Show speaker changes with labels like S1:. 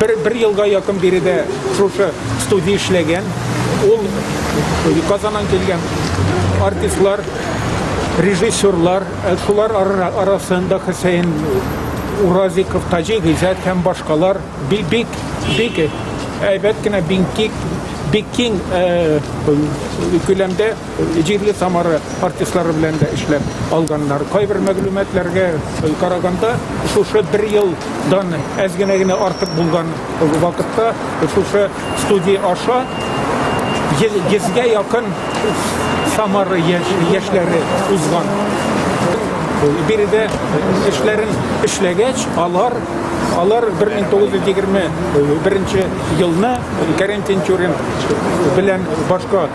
S1: Бер, бер елга якын биредә шушы студия эшләгән. Ул Казаннан килгән артистлар, режиссерлар, э, шулар арасында Хөсәен Уразиков, Таҗи Гыйзат һәм башкалар бик бик бик әйбәт кенә бик бик киң э, күләмдә Җирле Самара артистлары белән дә эшләп алганнар. Кайбер мәгълүматларга караганда, шушы бер елдан әз генә генә артык булган вакытта шушы студия аша йөзгә якын Самара яшьләре узган. Биредә эшләрен эшләгәч, алар алар 1921 елны Кәрим Тинчурин белән башка